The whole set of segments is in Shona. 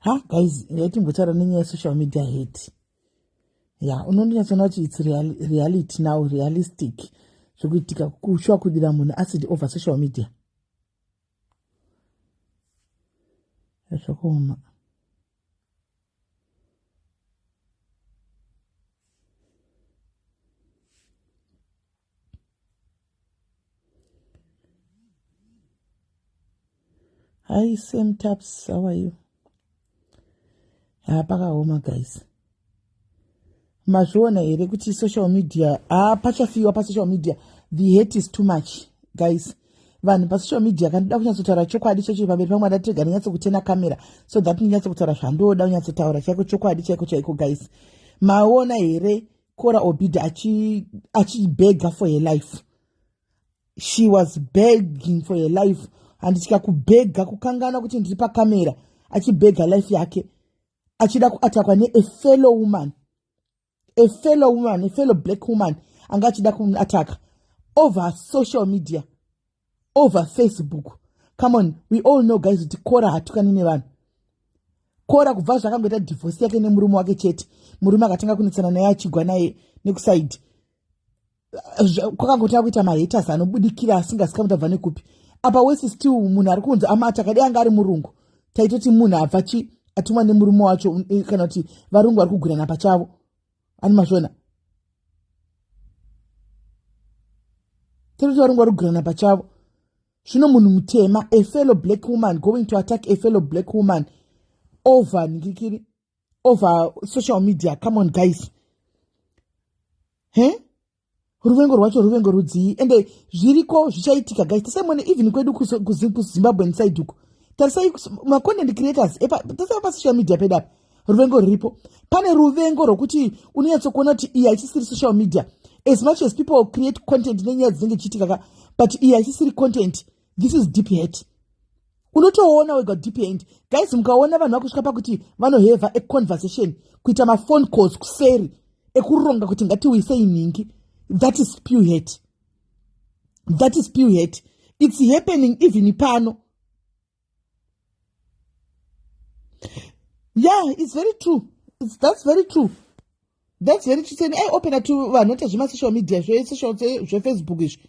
ha guys yatimbotaura nenyaya yesocial media hate ya unondinyatsoona kuti its reality now realistic zvekuitika kushuwa kudira munhu asidi over social media zvakaoma Hi, same taps. How are you? Ah, pakaoma guys. Mazviona here kuti social media ah pachafiwa pa social media the hate is too much guys. Vanhu pa social media kandida kunyatsotaura chokwadi chacho pamberi pamwe ada tega ndinyatso kutena camera so that ndinyatso kutaura zvandoda kunyatsotaura chaiko chokwadi chaiko chaiko guys. Maona here kora obida achibega for her life she was begging for her life handitya kubhega kukangana kuti ndiri pakamera achibhega life yake achida kuatakwa neafellow woman afellow woman afellow black woman anga achida kuataka over social media over facebook come on we all know guys kuti kora hatukani nevanhu kora kubva zvakangoita divhosi yake nemurume wake chete murume akatanga kunetsana naye achigwa naye nekusaidi kwakangotanga kuita mahaters anobudikira asingasikamuti abva nekupi apa wese still munhu ari kunzi amati akadai anga ari murungu taitoti munhu abva chi atumwa nemurume wacho eh, kana kuti varungu vari kugwirana pachavo ani mazvona tiri taringa rugirana pachavo zvino munhu mutema a fellow black woman going to attack a fellow black woman over ndikikiri over social media come on guys he ruvengo rwacho ruvengo rudzii ende zviriko zvichaitika guys tisaimone even kwedu kuzimbabwe nside uko tarisai macontent creators tasai pasocial media pedu apa ruvengo ruripo pane ruvengo rwokuti unonyatsokuona kuti iyi haichisiri social media as much as people create content nenyaya dzinenge chiitikaka but iyi haichisiri content this is deep hate unotoona wega depend guys mukaona vanhu vakusvika pakuti vanoheva econversation kuita maphone calls kuseri ekuronga kuti ngatiwisei nhingi that is pew het that is pew het its happening even pano yeah its very true it's, that's very true that's very true seni aiopena to vanhu ota zvemasocial media zvesocial zvefacebook izvi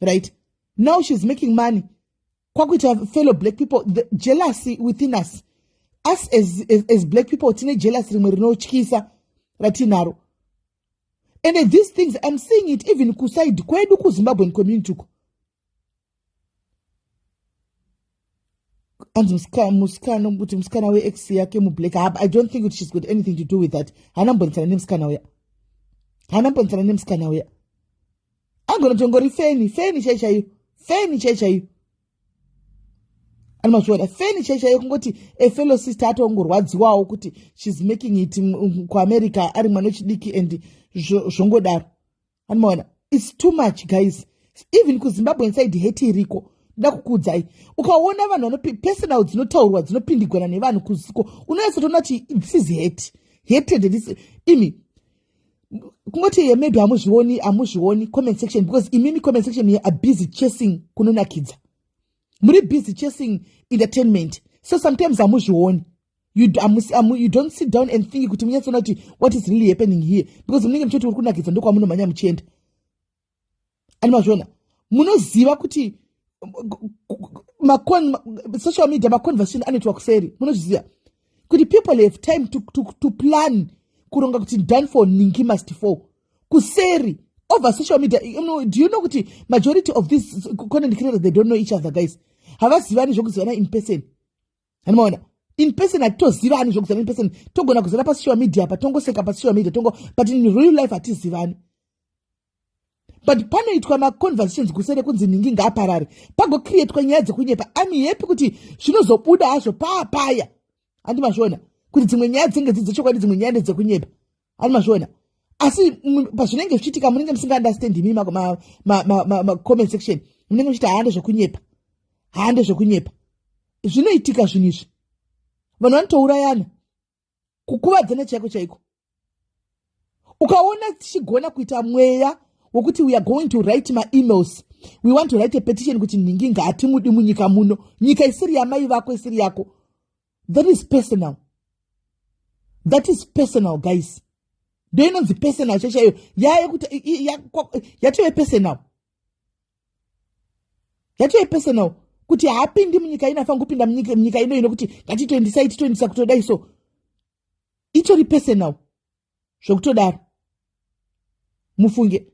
right now she's making money kwakuita fellow black people the jealousy within us us as, as, as black people tine jealousy rimwe rinotyisa ratinaro and these things i'm seeing it even kuside kwedu kuzimbabwean community uko anzi musikana kuti musikana wex yake mublack i don't think kuti she's got anything to do with that haana mbonisana nemusikana uya haana mbonisana nemusikana uya angona tongori feni feni chai chaiyo feni chai chaiyo ani mazviona feni chai chaiyo kungoti a fellow sister atongorwadziwawo kuti she's making it kuamerica ari mwana wechidiki and zvongodaro anomaona its too much guys even kuzimbabwe inside hate iriko nda kukuudzai ukaona vanhu vanopi personal dzinotaurwa dzinopindigwana nevanhu kuziko unoyatsotoona kuti this is hate hated this imi kungoti yemedu hamuzvioni hamuzvioni comment section because imimi comment section ye are busy chasing kunonakidza muri busy chasing entertainment so sometimes hamuzvioni you, um, um, you don't sit down and think kuti munyatsoona kuti what is really happening here because munenge muchiti uri kunakidza ndokwamunomhanya muchienda ani mazviona munoziva kuti social media maconversation anoitwa kuseri munozviziva kuti people have time to, to, to plan kuronga kuti done for ningi must fall kuseri over social media you know, do you know kuti majority of these content creators they don't know each other guys havazivani zvokuzivana in person anomaona in person hatitozivani zvekuzana in person togona kuzana pasocial media apa tongoseka pasocial media tongo but in real life hatizivani but panoitwa maconversations kusere kunzi nhingi ngaaparare pagocreatwa nyaya dzekunyepa ami happy kuti zvinozobuda hazvo paapaya handi mazviona kuti dzimwe nyaya dzenge dzidzechokwadi dzimwe nyaya ndedzekunyepa ani mazviona asi pazvinenge zvichiitika munenge musinga understand imi macomment section munenge muchiti haande zvekunyepa haande zvekunyepa zvinoitika zvinhu izvi vanhu vanotourayana kukuvadzana chaiko chaiko ukaona tichigona kuita mweya wekuti weare going to write maemails we want to write a petition kuti nhingi ngaatimudi munyika muno nyika isiri yamai vako isiri yako that is personal that is personal guys ndo inonzi personal cheche iyo yayekuti yatove personal yatove personal kuti haapindi munyika ino afanira kupinda munyika ino ino kuti ngatitoendisai titoendisa kutodai so itori personal zvekutodaro mufunge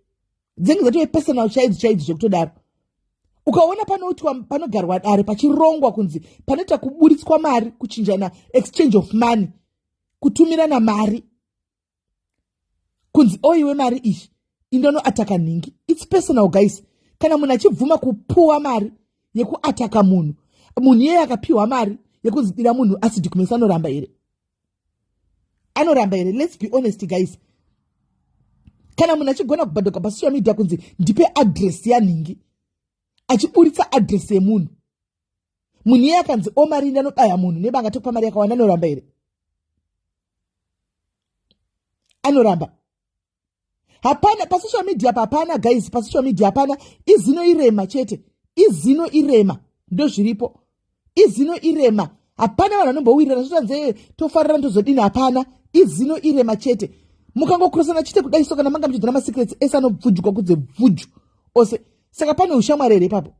dzinge dzatove personal chaidzo chaidzo zvekutodaro ukaona panoitwa panogarwa dare pachirongwa kunzi panoita kuburitswa mari kuchinjana exchange of money kutumirana mari kunzi oiwe oh, mari iyi indonoataka nhingi its personal guys kana munhu achibvuma kupuwa mari yekuataka munhu munhu iyeye akapiwa mari yekunzidira munhu asidhi kumesa anoramba here anoramba here let's be honest guys kana munhu achigona kubhadoka pasocial media kunzi ndipe adress yanhingi achiburitsa adress yemunhu munhu iye akanzi omarindi anodaya munhu nebanga tokupa mari yakawanda anoramba here anoramba hapana pasocial media papana guys pasocial media hapana izino irema chete izino irema ndozviripo izino irema hapana vanhu vanombowirirana zvotanzee tofarira ndozodini hapana izino irema chete mukangokurosana chete kudai so kana manga muchidzana masecrets ese anobvujwa kudze bvuju ose saka pane ushamwari here ipapo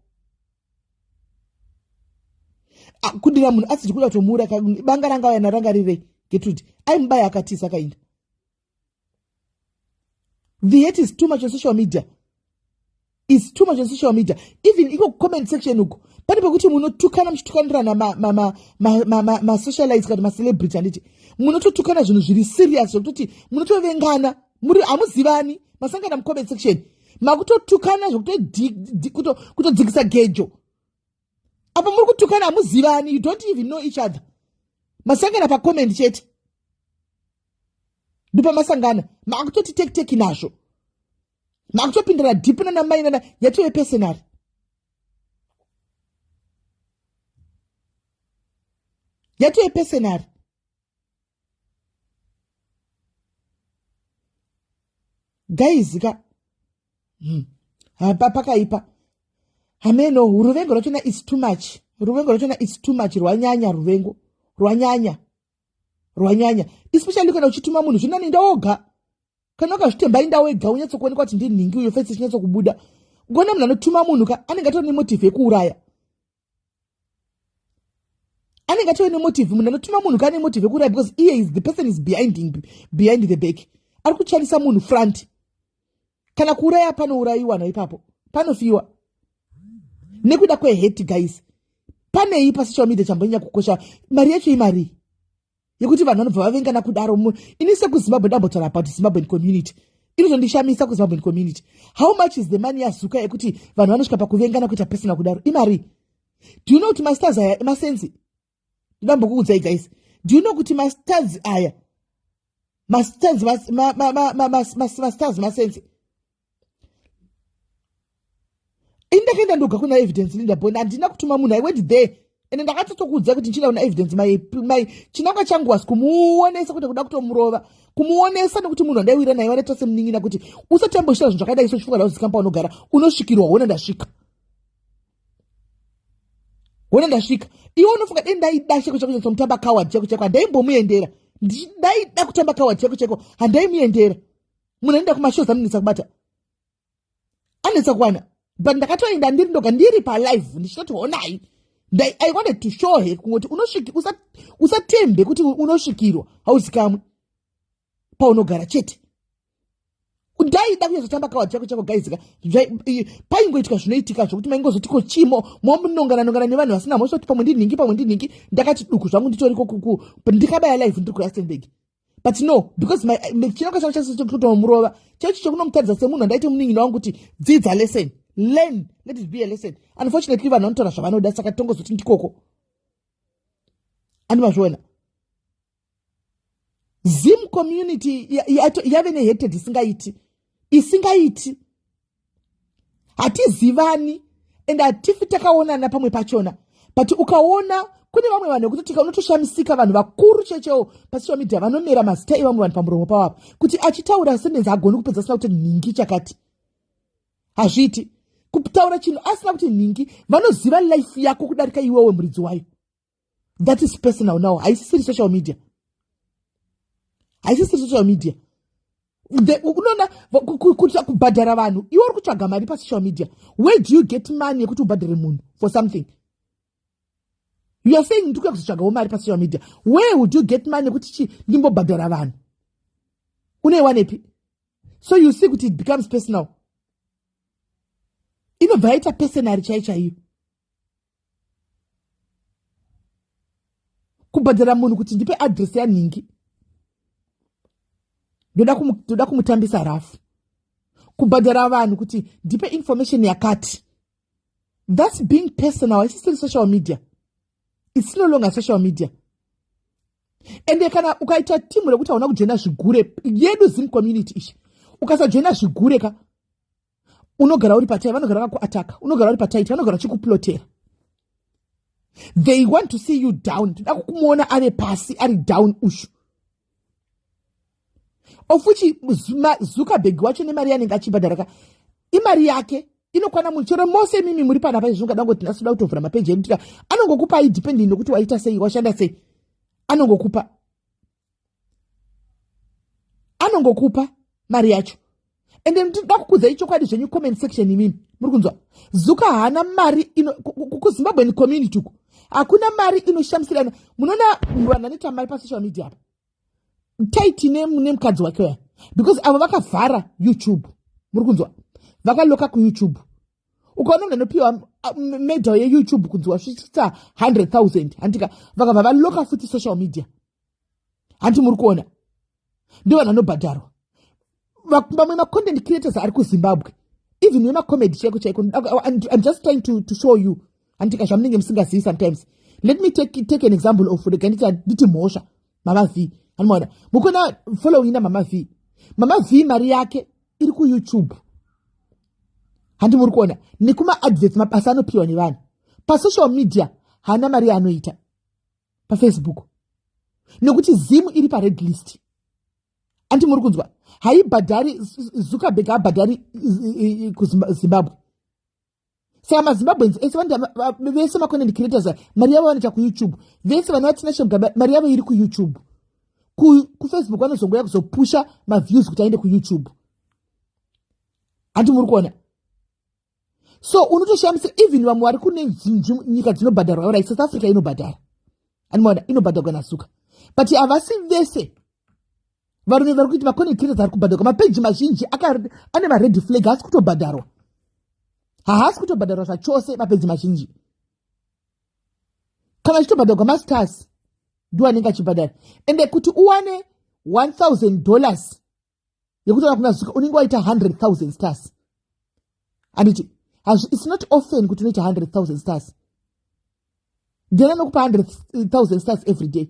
ah, kudira munhu asiti kuda kutomuura banga ranga vayana ranga rirei getrude aimubaya akatisa kainda the hate is too much on social media is too much on social media even iko comment section uko pane pekuti munotukana muchitukanirana masocialites kana macelebrity handiti munototukana zvinhu zviri serious zvekutoti munotovengana muri hamuzivani masangana mucomment section makutotukana zvekutodzikisa gejo apa muri kutukana hamuzivani you don't even know each other masangana pacomment chete ndopamasangana makutoti tekiteki nazvo makutopindana dhipi nana mai nana yatove pesenari yatove pesenari guys ka hmm. hapa pakaipa hameno ruvengo rwachona is too much ruvengo rwachona is too much rwanyanya ruvengo rwanyanya rwanyanya especially kana uchituma munhu zvinani inda woga kana ukazvitemba inda wega unyatsokuonekwa kuti ndinhingi uyo fesi ichinyatsokubuda ukaona munhu anotuma munhu ka anenge atove nemotivhi yekuuraya anenge atove nemotivhi munhu anotuma munhu ka ane motivhi yekuuraya because iye is the person is behind, behind the back ari kuchanisa munhu front kana kuuraya panourayiwa naipapo panofiwa nekuda kweheti guys panei pasocial media chambonyanya kukosha mari yacho imarii yekuti vanhu vanobva vavengana kudaro mu ini sekuzimbabwe ndambotaura about zimbabwean community iri zvondishamisa kuzimbabwean community how much is the money yazuka yekuti vanhu vanosvika pakuvengana kuita personal kudaro imari do you know kuti masters aya emasenzi ndambokuudzai guys do you know kuti mastars aya mastars mastars masense indakaenda ndoga kuna evidence linda bond handina kutuma munhu i went there ende ndakatotokuudza kuti ndichida kuna evidence mai mai chinangwa changu was kumuonesa kuti kuda kutomurova kumuonesa nekuti munhu andaiwira naye wanaita semunin'ina kuti usati amboshira zvinhu zvakadai so chifunga ndauzikamba unogara unosvikirwa hona ndasvika wona ndasvika iwe unofunga dei ndaida cheko cheko cheko mutamba coward cheko cheko handaimbomuendera ndaida kutamba coward cheko cheko handaimuendera munhu anoenda kumashows anonetsa kubata anetsa kuwana but ndakatoenda ndiri ndoga ndiri palive ndichitoti honai i wanted to show her kungoti usatembe kuti unosvikirwa hauzikamwe paunogara chete kudai da kunyazotamba kawa chako chako gaizika paingoitika zvinoitika zvokuti maingozoti ko chimo momunongana nongana nevanhu vasina mhosva kuti pamwe ndinhingi pamwe ndinhingi ndakati duku zvangu nditoriko kuku ndikabaya live ndiri kurustenburg but no because chinoka chavo chese chekutomurova chechi chekunomutadza semunhu andaite munin'ina wangu kuti dzidza lesson learn let it be a lesson unfortunately vanhu vanotora zvavanoda saka tongozoti ndikoko andimazviona zim community yave nehated isingaiti isingaiti hatizivani and hatifi takaonana pamwe pachona but ukaona kune vamwe vanhu vekutotika unotoshamisika vanhu vakuru chechewo pasocial media vanomera mazita evamwe vanhu pamuromo pavo apa kuti achitaura sendenzi agoni kupedza asina kuti nhingi chakati hazviiti kutaura chinhu asina kuti nhingi vanoziva life yako kudarika iwewe muridzi wayo that is personal now haisisiri social media haisisiri social media unoona kuita kubhadhara vanhu iwe uri kutsvaga mari pasocial media where do you get money yekuti ubhadhare munhu for something you are saying ndikuya kuzotsvagawo mari pasocial media where would you get money yekuti chi ndimbobhadhara vanhu uneiwanepi so you see kuti it becomes personal inobva yaita personary chai chaiyo kubhadhara munhu kuti ndipe adress yanhingi ndoda kumutambisa rafu kubhadhara vanhu kuti ndipe information yakati thats being personal haisisiri social media its no longer social media ende kana ukaita timu rekuti hauna kujoina zvigure yedu zim community ichi ukasajoina zvigure ka unogara uri patai vanogara vakuataka unogara uri pataiti vanogara vachikuplotera they want to see you down toda kukumuona ave pasi ari down ushu ofuchi zuckerberg wacho nemari yanenge achibhadharaka imari yake inokwana munhu chero mose imimi muri pana paizvi ungada kungoti ndasida kutovhura mapeji edu tika anongokupai depending nokuti waita sei washanda sei anongokupa anongokupa mari yacho and then ndinoda kukudzai chokwadi zvenyu comment section imimi muri kunzwa zuka haana mari kuzimbabwen community uku hakuna mari inoshamisirana munoona vanhu vanoita mari pasocial media apa taiti nemukadzi wake waya because avo vakavhara youtube muri kunzwa vakaloka kuyoutube ukaona munhu anopiwa medal yeyoutube kunzi wasvitsa 100 000 handika vakabva valoka futi social media hanti muri kuona ndo vanhu anobhadharwa vamwe macontent creators ari kuzimbabwe even wemacomedy chaiko chaiko im just trying to, to show you handika zvamunenge musingazivi sometimes let me take, take an example of rega nditi handiti mhosva mama v anomaona mukona following na mama v mama v mari yake iri kuyoutube handi muri kuona nekumaadverts mabasa anopiwa nevanhu pasocial media haana mari yaanoita pafacebook nekuti zim iri pared list andi muri kunzwa haibhadhari zuckerberg haabhadhari kuzimbabwe saka mazimbabweans ese vese macontent creators mari yavo vanoita kuyoutube vese vana vatinashe mugaba mari yavo iri kuyoutube kufacebook vanozongoya kuzopusha maviews kuti aende kuyoutube handi muri kuona so unotoshamisira even vamwe vari kune nyika dzinobhadharwa orit south africa inobhadhara andimaona inobhadharwa nasuka but havasi vese varume vari kuiti maconectators ari kubhadharwa mapeji mazhinji ane mared flag haasi kutobhadharwa haasi kutobhadharwa zvachose mapeji mazhinji kana achitobhadharwa mastars ndiwo anenge achibhadhara ende kuti uwane 1000 dollars yekutaura kuna zuka unenge waita 100000 stars anditi its not often kuti unoita 100000 stars ndiani anokupa 100000 stars every day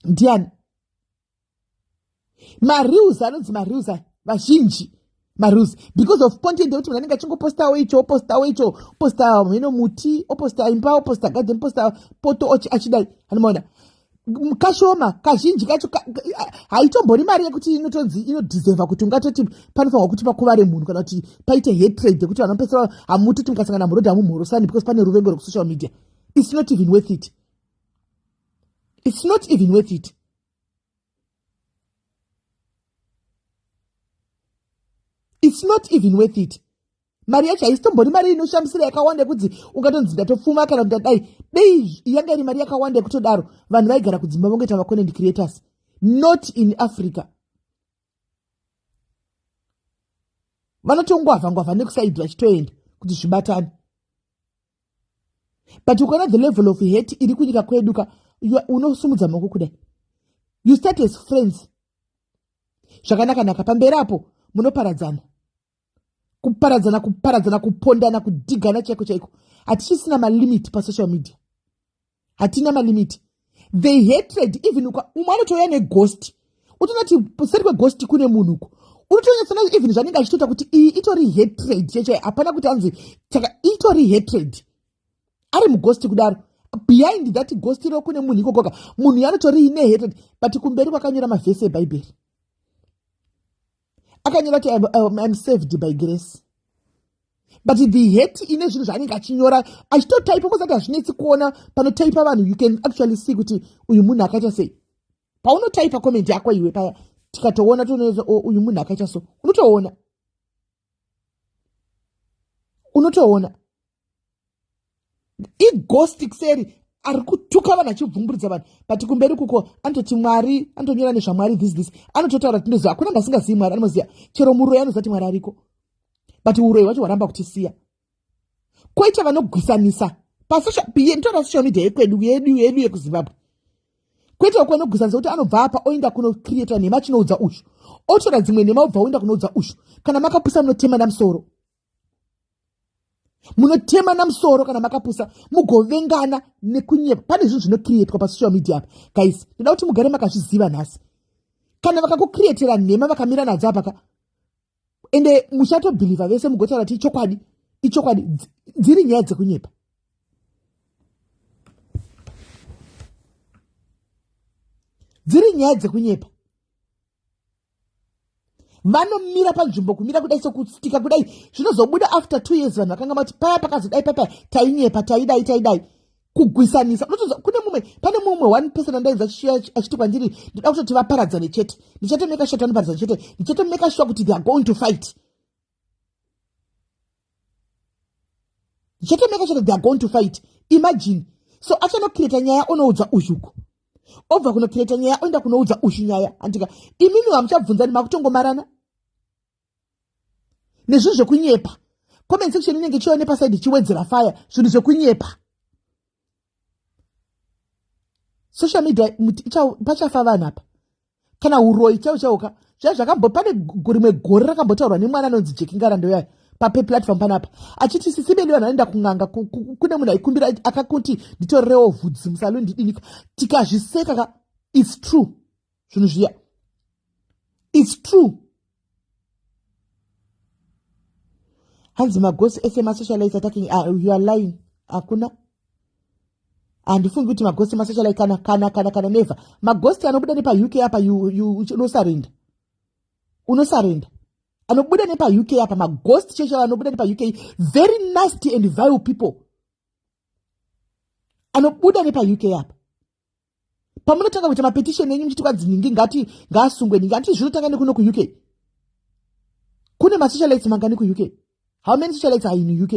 ndiani mareals anonzi mareals vazhinji marules because of content yekuti munhu anenge achingopostawo icho opostawo icho oposta mheno muti oposta imba oposta garden oposta poto ochi achidai anomaona kashoma kazhinji kacho haitombori mari yekuti inotonzi inodhizeva kuti ungatoti panofanirwa kuti pakuvare munhu kana kuti paite hetrade yekuti vanhu vapesera hamutoti mukasangana murodhi hamumhorosani because pane ruvengo rwekusocial media its not even worth it its not even worth it its not even worth it mari yacho haisitombori mari inoshamisira yakawanda yekudzi ungatonzi ndatopfuma kana kuti adai dei yanga iri mari yakawanda yekutodaro vanhu vaigara kudzimba vongoita maconent creators not in africa vanotongwavha ngwavha nekusaidi vachitoenda kuti zvibatane but ukaona the level of hate iri kunyika kwedu ka unosumudza maoko kudai you start as friends zvakanakanaka pamberi apo munoparadzana kuparadzana kuparadzana kupondana kudhigana chaiko chaiko hatichisina malimit pasocial media hatina malimiti they hatred even umwe anotouya neghost utonati seri kweghost kune munhu uko unotonyatsana even zvanenge achitoita kuti iyi itori hatred chechai hapana kuti anzi saka itori hatred ari mughost kudaro behind that ghost iro kune munhu ikokoka munhu yanotori ine hatred but kumberi kwakanyora mavhesi ebhaibheri akanyora kuti um, im saved by grace but the hate ine zvinhu zvaanenge achinyora achitotaipa kozati hazvinetsi kuona panotaipa vanhu you can actually see kuti uyu munhu akaita sei paunotaipa comment yako iwe paya tikatoona tonoza oh, uyu munhu akaita so unotoona unotoona ighosti kuseri ari kutuka vanhu achibvumburidza vanhu but kumberi kuko anototi mwari anotonyora nezvamwari this this anototaura tindoziva hakuna munhu asingazivi mwari anoziva chero muroyi anoziva kuti mwari ariko but uroyi hwacho hwaramba kutisiya koita vanogwisanisa pasnditora social media yekwedu yedu yedu yekuzimbabwe kwete wekuenda kugwisanisa kuti anobva apa oenda kunocreata nhema chinoudza ushu otora dzimwe nhema obva oenda kunoudza ushu kana makapusa munotemana musoro munotemana musoro kana makapusa mugovengana nekunyepa pane zvinhu zvinokrietwa pasocial media apa guys ndoda kuti mugare makazviziva nhasi kana vakakukrietera nhema vakamira nadzo apaka ende muchatobhilivha vese mugotaura ti ichokwadi ichokwadi dziri nyaya dzekunyepa dziri nyaya dzekunyepa vanomira panzvimbo kumira kudai sokutsika kudai zvinozobuda after two years vanhu vakanga vati paya pakazodai papa tainyepa taidai taidai kugwisanisa unotoza kune mumwe pane mumwe one person andainza achiti kwandiri ndoda kutoti vaparadzane chete ndichatomeka shuwa kuti vanoparadzana chete ndichatomeka shuwa kuti theyare going to fight zvotomeka chete theyare going to fight imagine so achanokireta nyaya onoudza uzhuko obva kunokireta nyaya oenda kunoudza uzhu nyaya handika imimi hamuchabvunzani makutongomarana nezvinhu zvekunyepa comment section inenge chione pasaidi chiwedzera faya zvinhu zvekunyepa social media pachafa vanhu apa kana uroyi chaiwo chaiwo ka zviya zvakambo pane rimwe gore rakambotaurwa nemwana anonzi jekingarando yayo papeplatform panapa achiti sisi bedu vanhu vanoenda kun'anga kune munhu aikumbira akakuti nditorerewo vhudzi musaluni ndidinika tikazviseka ka its true zvinhu zviya its true hanzi magosi ese masocialite attacking uh, you are lying hakuna uh, handifungi kuti magosti masachalai kana kana kana kana neva magosti anobuda nepauk apa unosarenda unosarenda anobuda nepauk apa magosti cheshe anobuda nepauk very nasty and vile people anobuda nepauk apa pamunotanga kuita mapetisheni enyu muchiti kwanzi nhingi ngati ngaasungwe nhingi hanti zvinotanga nekuno kuuk kune masocialites mangani kuuk how many socialites are in uk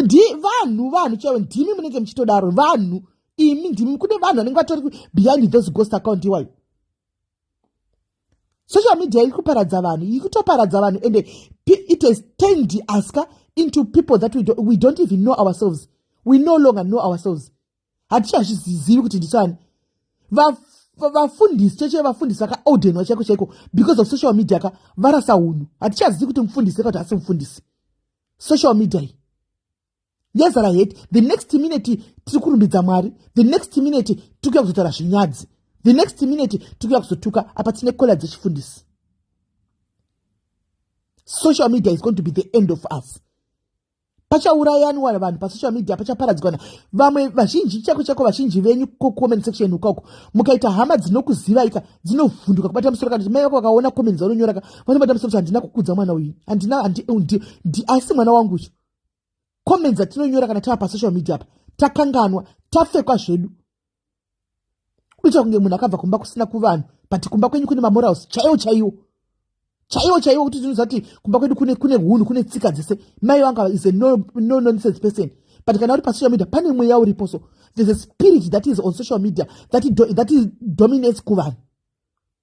ndi vanhu vanhu chaivo ndimi munenge muchitodaro vanhu imi ndimi kune vanhu vanenge vatori behind those ghost account iwayo social media iri kuparadza vanhu iri kutoparadza vanhu and it has turned us ka into people that we, do, we don't even know ourselves we no longer know ourselves hatichazvizivi kuti ndichani vafundisi cheche vevafundisi vakaaudenwa chaiko chaiko because of social media ka varasa unhu hatichazivi kuti mufundisi ka kuti hasi mufundisi social media iyi yezara heti the next minute tiri kurumbidza mwari the next minute tiri kuya kuzotaura zvinyadzi the next minute tiri kuya kuzotuka apa tine kola dzechifundisi social media is going to be the end of us pachaurayanwa vanhu pasocial media pachaparadzikana vamwe vazhinji chako chako vazhinji venyu kucomment section ukoko mukaita hama dzinokuzivaika dzinovhunduka kubata musoro kana kuti mai vako vakaona comments vanonyoraka vanobata musoro kuti handina kukudza mwana uyu handina asi mwana wangu uyu comments atinonyora kana tava pasocial media apa takanganwa tafekwa zvedu kuita kunge munhu akabva kumba kusina kuvanhu but kumba kwenyu kune mamorals chaiwo chaiwo chaiwo chaiwo kuti tinoziva kuti kumba kwedu kune kune hunhu kune tsika dzese mai vanga is a no, no nonsense person but kana uri pasocial media pane mweya uripo so there's a spirit that is on social media that, do, that is dominates kuvanhu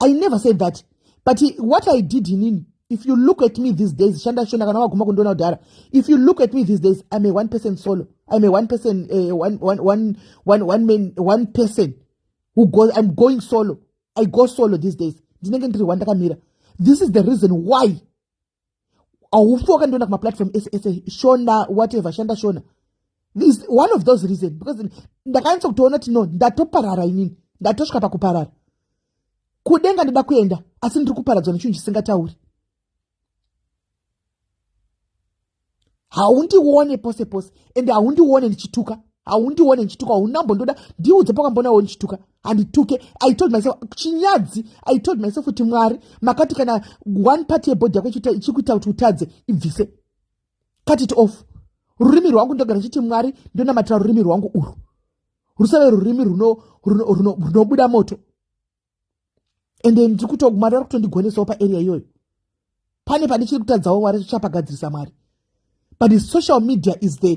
i never said that but what i did inini if you look at me these days shanda shona kana waguma kundiona kudhara if you look at me these days i'm a one person solo i'm a one person uh, one, one, one, one, one man one person who goes i'm going solo i go solo these days ndinenge ndiri wandakamira this is the reason why haufi wakandiona kumaplatform ese ese shona whatever shanda shona is one of those reason because ndakanyatsa kutoona kuti no ndatoparara inini ndatosvika pakuparara kudenga ndoda kuenda asi ndiri kuparadzwa nechinhu chisingatauri haundione pose pose ende haundione ndichituka haundione ndichituka haunambondoda ndiudze pakambonawo ndichituka handituke i told myself chinyadzi i told myself kuti mwari makati kana one part yebhodhi yako ichikuita kuti utadze ibvise cut it off rurimi rwangu ndogara ndichiti mwari ndonamatira rurimi rwangu urwu rusave rurimi runobuda moto and then ndiri kuto mwari vari kutondigwenesawo paarea iyoyo pane pane chiri kutadzawo wari zvichapagadzirisa mwari but the social media is the,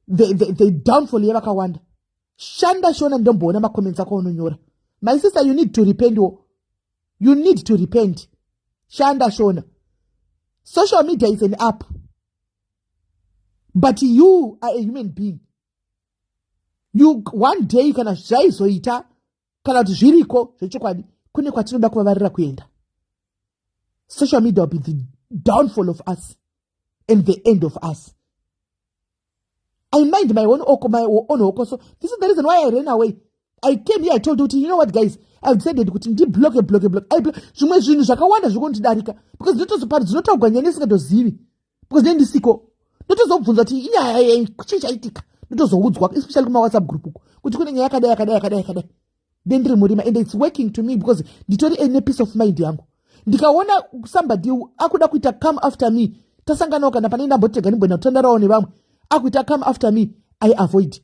the, the, the downfall yevakawanda shanda shona ndomboona macomments ako unonyora my sister you need to repent wo you need to repent shanda shona social media is an app but you are a human being you one day kana zvaizoita kana kuti zviriko zvechokwadi kune kwatinoda kuvavarira kuenda social media will be the downfall of us and the end of us i mind my own oko my own okoso this is the reason why i ran away i came here i told you you know what guys i decided kuti ndibloke bloke bloke zvimwe zvinhu zvakawanda zviri kundidarika because ndinotozopa dzinotaugwa nyaya ndisingatozivi because nei ndisiko ndotozobvunza kuti inyaya yei chii chaitika ndotozoudzwa especially kumawhatsapp group uko kuti kune nyaya yakadai yakadai yakadai yakadai then ndiri murima and its working to me because nditori ene piece of mind yangu ndikaona somebody akuda kuita come after me tasanganawo kana pane ndambotega ndimboenda kutandarawo nevamwe akuita come after me i avoid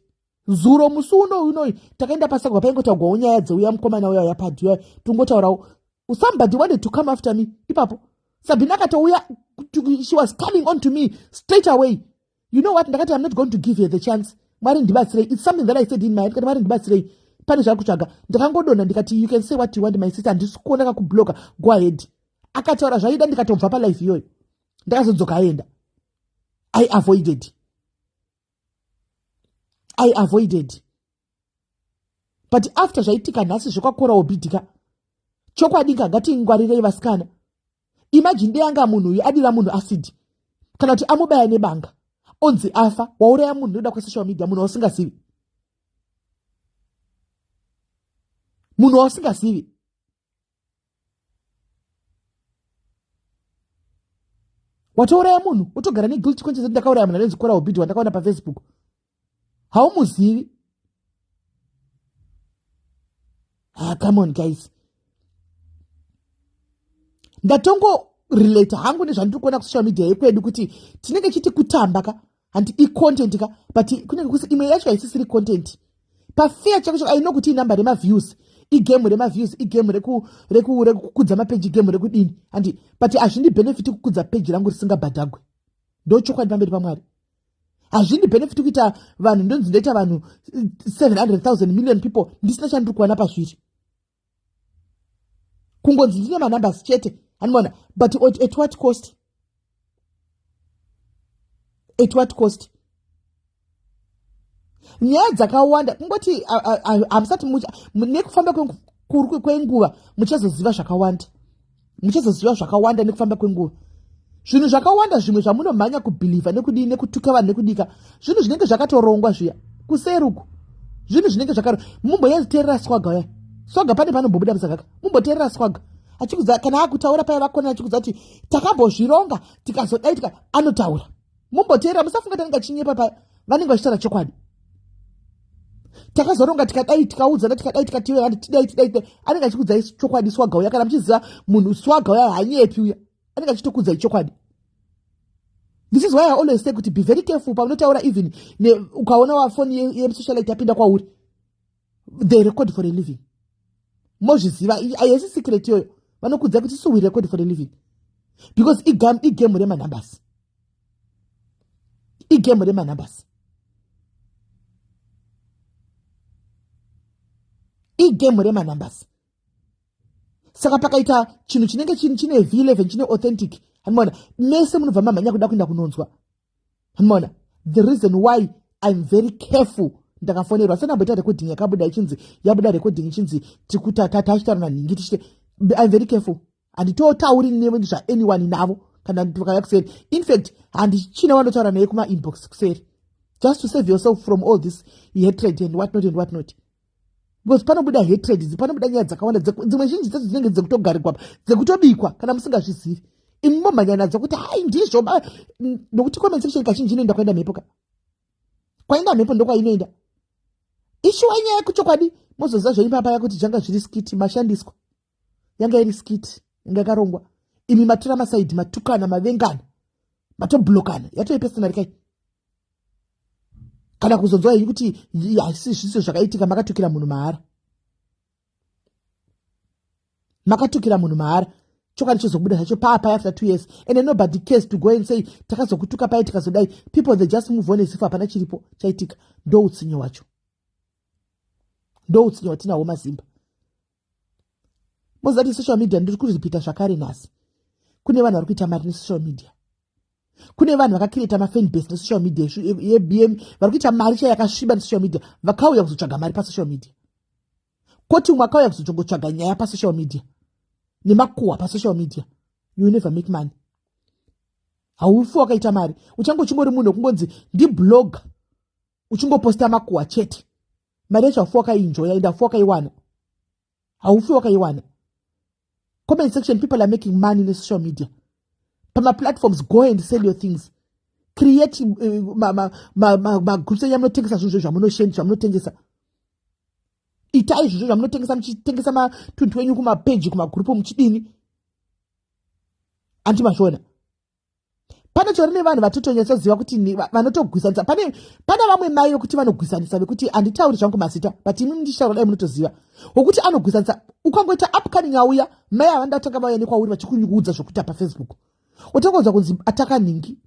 zuro musi uno unoyi takaenda pasagwa paingotaugwawo nyaya dzeuya mukomana uya uya padhi uya tongotaurawo somebody wanted to come after me ipapo sabhina akatouya she was coming on to me straight away you know what ndakati i'm not going to give her the chance mwari ndibatsirei its something that i said in my head kati mwari ndibatsirei pane zvaa kutsvaga ndakangodonha ndikati you can say what you want my sister handisi kuona kakubloka go ahead akataura zvaida ndikatobva palife iyoyo ndakazodzoka aenda i avoided i avoided but after zvaitika nhasi zvekwakora obidika chokwadi ka ngatingwarirei vasikana imajini deyanga munhu uyu adira munhu asidi kana kuti amubaya nebanga onzi afa wauraya munhu noda kwesocial media munhu wausingazivi munhu wausingazivi watouraya munhu wotogara neguilt conscience ndakauraya munhu anonzi kora ubidi wandakaona pafacebook haumuzivi ah, come on guys ndatongo relate hangu nezvandiri kuona kusocial media yekwedu kuti tinenge chiti kutamba ka handi icontent ka but kunenge kusi imwe yacho haisisiri content pafeya chako chako aino kuti inumber remaviews igame remaviews igame rekukudza mapeji igame rekudini handi but hazvindi benefit kukudza peji rangu risingabhadhagwe ndo chokwadi pamberi pamwari hazvindi benefit kuita vanhu ndonzi ndoita vanhu 700 eh, 000 million people ndisina chandiri kuwana pazviri kungonzi ndine manumbers chete animona but at what cost at what cost nyaya dzakawanda kungoti hamusati nekufamba kwenguva muchazoziva zvakawanda muchazoziva zvakawanda nekufamba kwenguva zvinhu zvakawanda zvimwe zvamunomhanya kubhilivha nekudii nekutuka vanhu nekudika zvinhu zvinenge zvakatorongwa zviya kuseruku zvinhu zvinenge zvakaro mumboyaziterera swaga uya swaga pane panombobuda musakaka mumboterera swaga achikudza kana akutaura paya vakona achikudza kuti takambozvironga tikazodaitika anotaura mumboteera musafunga tanenge achinyepa pa vanenge vachitaura chokwadi takazoronga tikadai tikaudzana tikadai tikatiwe vanhu tidai tidai tidai anenge achikudzai chokwadi swaga uya kana muchiziva munhu swaga uya hanyepi uya anenge achitokudzai chokwadi this is why i always say kuti be very careful paunotaura even ukaona wafoni yemusocialite yapinda kwauri they record for a living mozviziva ayesi secret yoyo vanokuudza kuti so we record for a living because igame remanambers igame remanambers igame remanambers saka pakaita chinhu chinenge chine v11 chine authentic hanimona mese munobva mamhanya kuda kuenda kunonzwa mona the reason why im very careful ndakafonerwa senamboita recording yakabuda ichinzi yabuda recording ichinzi tikutatachitaura nanhingi tichite im very careful handitotauri nezvaanyone navo kana vakaya kuseri infact handichina vanotaura naye kumainbox kuseri just to save yourself from all this hatred and what not and what not because panobuda hatred idzi panobuda nyaya dzakawanda dzimwe zhinji dzedzo dzinenge dzekutogarikwa pa dzekutobikwa kana musingazvizivi imi momhanya nadzo kuti hai ndizvo nokuti comment section kazhinji inoenda kwaenda mhepo ka kwaenda mhepo ndokwainoenda ishuwa nyaya kuchokwadi mozoziva zvenyu paya paya kuti zvanga zviri skiti mashandiswa yanga iri skiti yanga yakarongwa imi matora masaidhi matukana mavengana matoblokana yatove pesinari kai kana kuzonzwa henyu kuti haisi zviso zvakaitika makatukira munhu mahara makatukira munhu mahara chokwadi chozobuda zvacho paapaya after two years and nobody case to go and say takazokutuka paye tikazodai people the just move on esifu hapana chiripo chaitika ndoutsinye wacho ndoutsinye watinahwo mazimba moziva kuti social media ndiri kuripita zvakare nhasi kune vanhu vari kuita mari nesocial media kune vanhu vakakireta mafan base nesocial media yebm vari kuita mari chai yakasviba nesocial media vakauya kuzotsvaga mari pasocial media koti umwe akauya kuzotongotsvaga nyaya pasocial media nemakuhwa pasocial media you never make money haufi wakaita mari uchange uchingori munhu wekungonzi ndiblog uchingoposta makuwa chete mari yacho hafuwa kaiinjoya ende hafuwa kaiwana haufi wakaiwana comment section people are making money nesocial media pamaplatforms go and sell your things create eh, magroups enya munotengesa zvinhu zvo zvamunoshen zvamunotengesa itai zvinhu zvo zvamunotengesa muchitengesa matunhu wenyu kumapeji kumagrupu muchidini anti mazviona panotori nevanhu vatotonyatsoziva kuti vanotogwisanisa pane pana vamwe mai vekuti vanogwisanisa vekuti handitauri zvangu mazita but imi munditaura dai munotoziva wekuti anogwisanisa ukangoita upcoming auya mai avanda vatanga vauya nekwauri vachikunyuudza zvekuita pafacebook utangonzwa kunzi ataka nhingi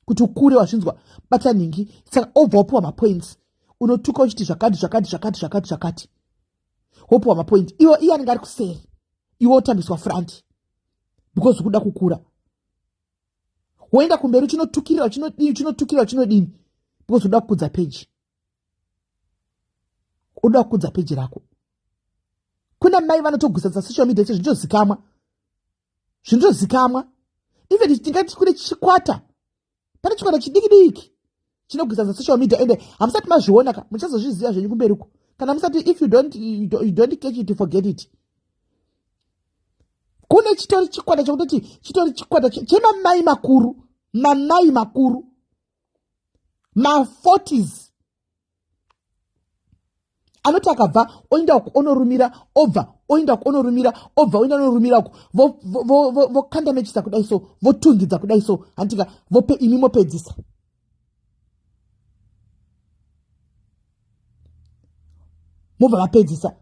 kuti ukure wazvinzwa bata nhingi saka obva wapiwa mapoints unotuka uchiti zvakati zvakati zvakati zvakati zvakati wopiwa mapoints iwo iye anenge ari kuseri iwe otambiswa franti because ukuda kukura woenda kumberi uchinotukirira uchinodii uchinotukirira uchinodini because unoda kukudza peji unoda kukudza peji rako kuna mai vanotogwisatsa social media che zvinotozikamwa zvinotozikamwa even tingati kune chikwata pane chikwata chidiki diki chinogwisa za social media ende hamusati mazviona ka muchazozviziva zvenyu kumberi uko kana musati if you don't, you don't, you don't catch it forget it kune chitori chikwata chekutoti chitori chikwata chemamai makuru mamai makuru ma40s anoti akabva oenda uku onorumira obva oenda uku onorumira obva oenda onorumira uku vokanda mechisa kudai so votungidza kudai so handitika vope imi mopedzisa mobva vapedzisa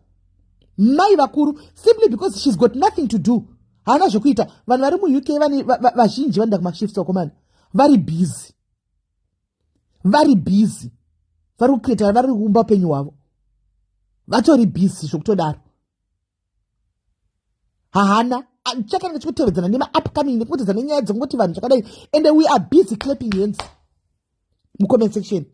mai vakuru simply because shes got nothing to do haana zvekuita vanhu vari muuk vazhinji vanoda kumashift wakomana vari busy vari busy vari kukretara vari kuumba upenyu hwavo vatori busy zvokutodaro hahana chakange chikutevedzana nemaupcoming nekupotedza nenyaya dzekungoti vanhu zvakadai and we are busy clapping hands mucomment section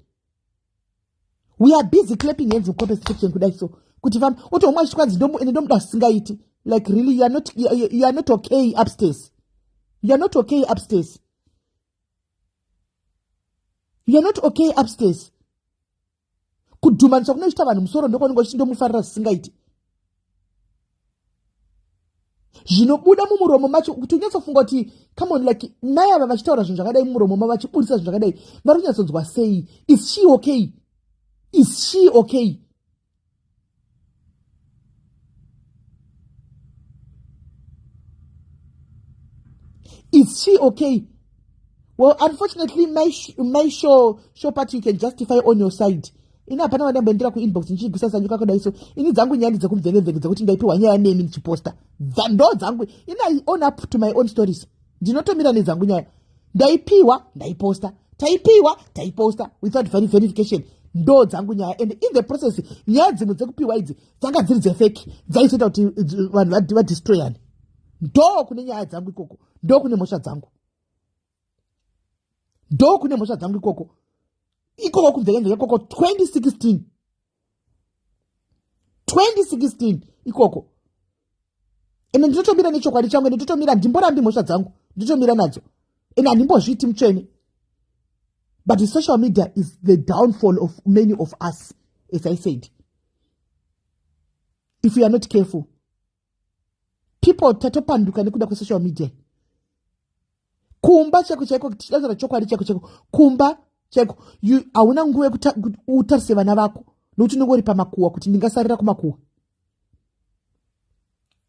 we are busy clapping hands mucomment section kudai so kuti famba otohomwa chikwanzi ende ndomuda zvisingaiti like really you are not, you are not okay upstairs you are not okay upstairs you're not okay upstairs kudhumaniswa kunochita vanhu musoro ndokwaunenge uchindomufarira zvisingaiti zvinobuda mumuromo macho kuti unyatsofunga kuti come on like mai ava vachitaura zvinhu zvakadai mumuromo ma vachiburitsa zvinhu zvakadai vari kunyatsonzwa sei is she okay is she okay Is she okay? Well, unfortunately, my, sh my show, show part you can justify on your side. ini hapana wandamboendera kuinbox ndichiigwisa zanyu kakudai so ini dzangu nyaya ndidzekumvekemveke dzekuti ndaipiwa nyaya nemi ndichiposta ndo dzangu ini i own up to my own stories ndinotomira nedzangu nyaya ndaipiwa ndaiposta taipiwa taiposta without very verification ndo dzangu nyaya and in the process nyaya dzimwe dzekupiwa idzi dzanga dziri dzefeki dzaizoita kuti vanhu vadistroyani ndo kune nyaya dzangu ikoko ndo kune mhosva dzangu ndo kune mhosva dzangu ikoko ikoko kunzekenzeka ikoko 2016 2016 ikoko ende ndinotomira nechokwadi changu ende ndotomira ndimborambi mhosva dzangu ndotomira nadzo ende handimbozviiti mutsvene but the social media is the downfall of many of us as i said if you are not careful people tatopanduka nekuda kwesocial media kumba chaiko chaiko tichitaura chokwadi chaiko chaiko kumba chaiko hauna nguva yekuti utarise vana vako nokuti unenge uri pamakuwa kuti ndingasarira kumakuwa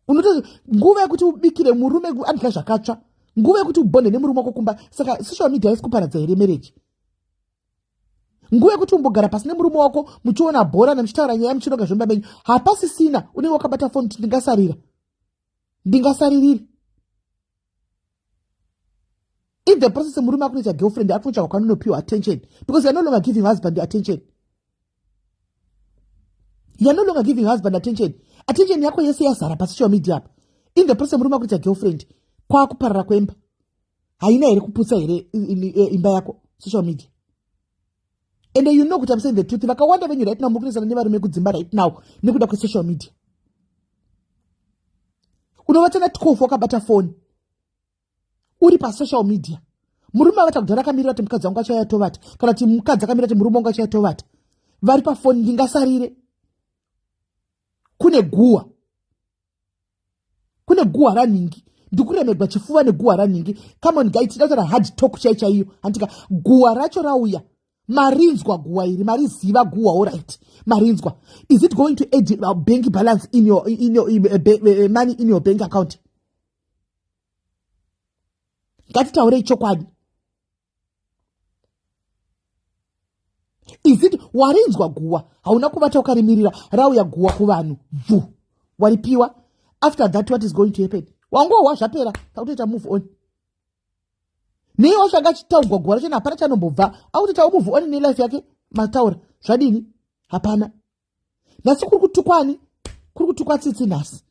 unoto nguva yekuti ubikire murume andya zvakatsva nguva yekuti ubonde nemurume wako kumba saka social media yesi kuparadza here mereji nguva yekuti umbogara pasi nemurume wako muchiona bhora nemuchitaura nyaya muchinoga zvemba menyu hapasisina unenge wakabata foni kuti ndingasarira ndingasaririri in the process murume akunoita girlfriend akunotsvaga kwanonopiwa attention because you're no longer giving husband attention you're no longer giving husband attention attention yako yese yazara pasocial media apa in the process murume akunoita girlfriend kwakuparara kwemba haina here kuputsa here e, imba yako social media and you know kuti amsaying the truth vakawanda venyu right now mukunesana nevarume kudzimba right now nekuda kwesocial media unovatana 12 wakabata foni uri pasocial media murume avata kudhara akamirira kuti mukadzi wangu achauya tovata kana kuti mukadzi akamirira kuti murume wangu achauya tovata vari pafoni ndingasarire kune guwa kune guhwa ranhingi ndikuremegwa chifuva neguhwa ranhingi camon gai tida kutaura hard talk chai chaiyo handika guhwa racho rauya marinzwa guhwa iri mariziva guhwa orit marinzwa is it going to add uh, bank balance in your, in your, in, uh, ba, uh, money in your bank account ngatitaurei chokwadi is it warinzwa guwa hauna kubata ukarimirira rauya guwa kuvanhu bvu waripiwa after that what is going to happen wangohwa zvapera akutoita move on nei washanga achitaugwa guwa racho hapana chanombobva akutoitawo move on nelife yake mataura zvadini hapana nhasi kuri kutukwa ani kuri kutukwa tsitsi nhasi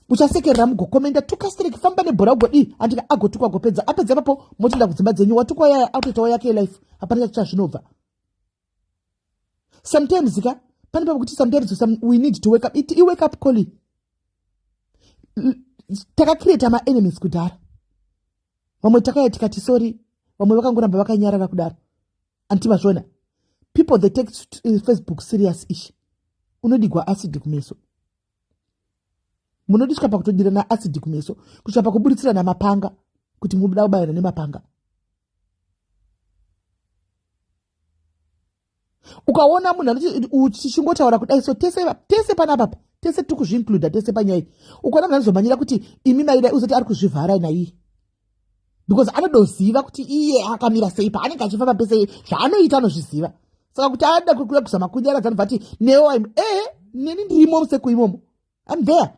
uchasekerera mugokomenda tukastereki famba nebhora ugodii andika agotukwa agopedza apedza ipapo motoenda kudzimba dzenyu watukwa yaya akutoitawo yake yelife hapana chati chazvinobva sometimes ka pane pakuti sometimes some, we need to wake up iti iwake up coli takacreata maenemies kudhara vamwe takaya tikati sori vamwe vakangoramba vakanyarara kudaro anti mazviona people they take eh, facebook serious ishi unodigwa acid kumeso munodiswa pakutodirana acid kumeso kusvika pakuburitsirana mapanga kuti muda kubayana nemapanga ukaona munhu atichingotaura kudai so tese tese panapapa tese tiri kuzviincluda tese panyaya ukaona munhu anozomhanyira kuti imi maidai uzoti ari kuzvivhara naiyi because anodoziva kuti iye akamira sei paanenge achifamba pese zvaanoita anozviziva saka kuti aada kukuya kuzama kunyaradza anobva ati newo im e eh, neni ndirimo museku imomo im there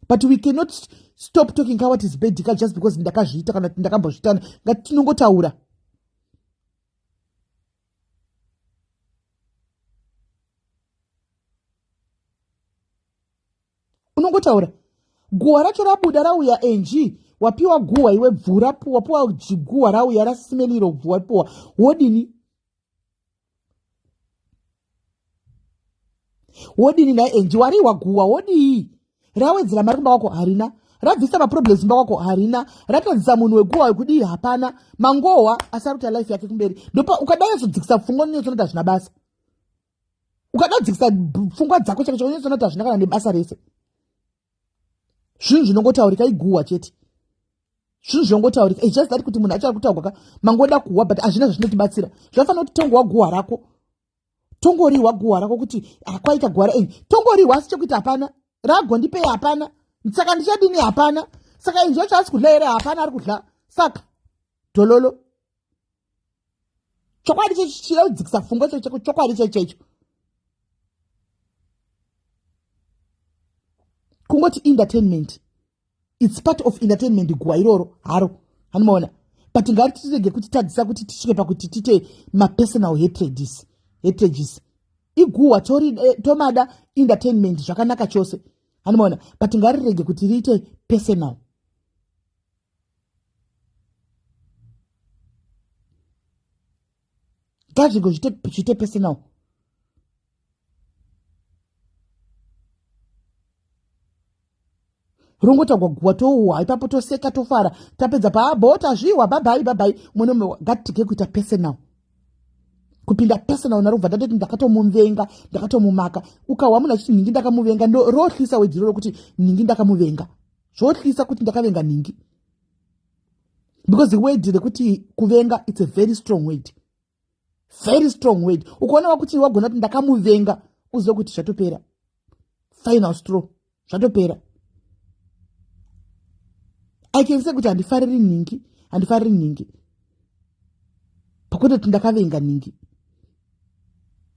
but we cannot stop talking kawat is bedika just because ndakazviita kana kuti ndakambozvitana ngati tinongotaura unongotaura guhwa racho rabuda rauya ng wapiwa guhwa iwe bvu rapuwa puwa guhwa rauya rasimeliro bvu wapuwa wodini wodini naye enji wariwa guwa wodii rawedzera mari kumba kwako harina rabvisa maproblems kumba kwako harina ratadzisa munhu weguwa wekudii hapana mangohwa asaruta life yake kumberi ndopa ukadai azodzikisa pfungwa nonyotsonoita zvina basa ukadadzikisa pfungwa dzako chake chakanyatsoona kuti hazvina kana nebasa rese zvinhu zvinongotaurika iguhwa chete zvinhu zvinongotaurika its just that kuti munhu achava kutaurwa ka mangoda kuhwa but hazvina zvazvinotibatsira zvinofanira kuti tongowa guhwa rako tongorihwa guhwa rako kuti akwaita guhwa ra tongorihwa asi chekuita hapana ragondipei hapana saka ndichadini hapana saka inzwa chaasi kudla here hapana ari kudla saka dololo chokwadi chechida kudzikisa fungo checheko chokwadi chechecho kungoti entertainment its part of entertainment guwa iroro haro hanimaona but ngari titirege kuti tadzisa kuti tisvike pakuti tite mapersonal hatrages hatrages iguhwa eh, tomada entertainment zvakanaka chose hanimaona but ngarirege kuti riite personal ngazvinge zviite personal rongotagwa guwa touwa ipapo toseka tofara tapedza paabota zviwa babhai babhai mwana umwe ngatitike kuita personal kupinda personal narobva ndatoti ndakatomuvenga ndakatomumaka ukahwa munhu achiti nhingi ndakamuvenga ndorohlisa wejiro rokuti nhingi ndakamuvenga zvotyisa kuti ndakavenga nhingi because the word rekuti kuvenga its a very strong word very strong word ukaona wakuti wagona kuti ndakamuvenga uzive kuti zvatopera final straw zvatopera i can say kuti handifariri nhingi handifariri nhingi pakuti kuti ndakavenga nhingi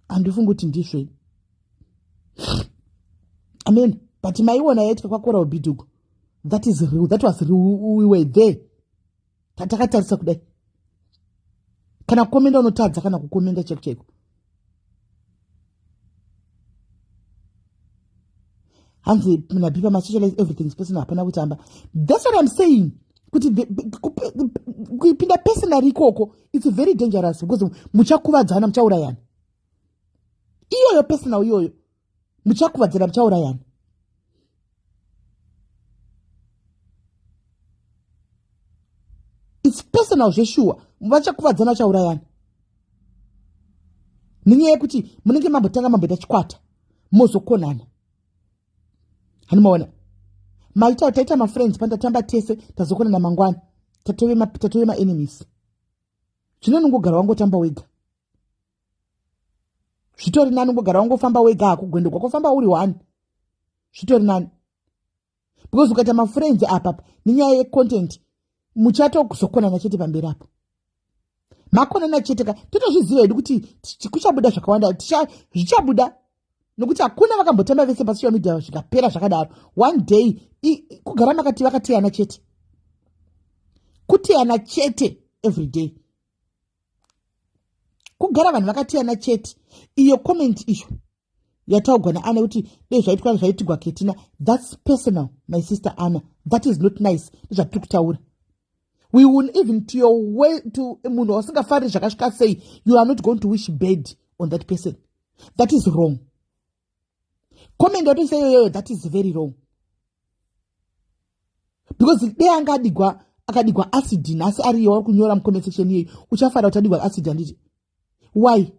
handifungi kuti ndizvo ini amen but maiona yaitwa kwakora ubidugo that is real that was real we were there tatakatarisa kudai kana kukomenda unotadza kana kukomenda chaiko chaiko hanzi nabipa masocialize everything personal hapana kutamba thats what im saying kuti kuipinda personal ikoko its very dangerous because muchakuvadzana muchaurayana iyoyo personal iyoyo muchakuvadzana muchaurayana its personal zveshuwa vachakuvadzana vachaurayana nenyaya yekuti munenge mambotanga mamboita chikwata mozokonana hanomaona maita taita mafriends pandatamba tese tazokonana mangwana tatove maenemies zvino nongogara wangotamba wega zvitori nani ungogara wangofamba wega hako gwendo kwakofamba uri one zvitori nani because ukaita mafriends apapa nenyaya yecontent muchatozokonana chete pamberi apo makonana chete ka totozviziva hedu kuti kuchabuda zvakawanda zvichabuda nokuti hakuna vakambotamba vese pasocial media zvikapera zvakadaro one day kugara makati vakateyana chete kuteyana chete every day kugara vanhu vakateyana chete iyo comment iyo yataugwa naana kuti dei zvaitwa zvaitigwa ketina thats personal my sister ana that is not nice ndezvatiri kutaura we will even to your way to munhu wasingafariri zvakasvika sei you are not going to wish bad on that person that is wrong comment yatoisa iyoyoyo that is very wrong because dei anga adigwa akadigwa acid nhasi ariyo wari kunyora mucomment section iyeyi uchafara kuti adigwa acid handiti why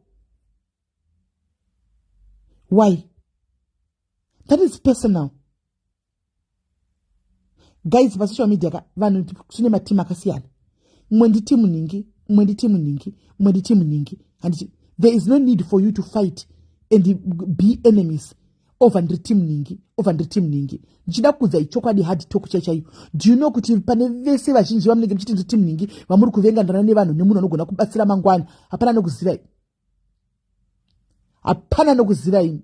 why that is personal guys pasocial media ka vanhu tine matimu akasiyana mumwe nditi munhingi mumwe nditi munhingi mumwe nditi munhingi handiti there is no need for you to fight and be enemies over ndiri timu ningi over ndiri timu ningi ndichida kuudza ichokwadi hard talk chai chaiyo do you know kuti pane vese vazhinji vamunenge muchiti ndiri timu ningi vamuri kuvengandana nevanhu nemunhu anogona kubatsira mangwana hapana anokuzivai hapana nokuziva ini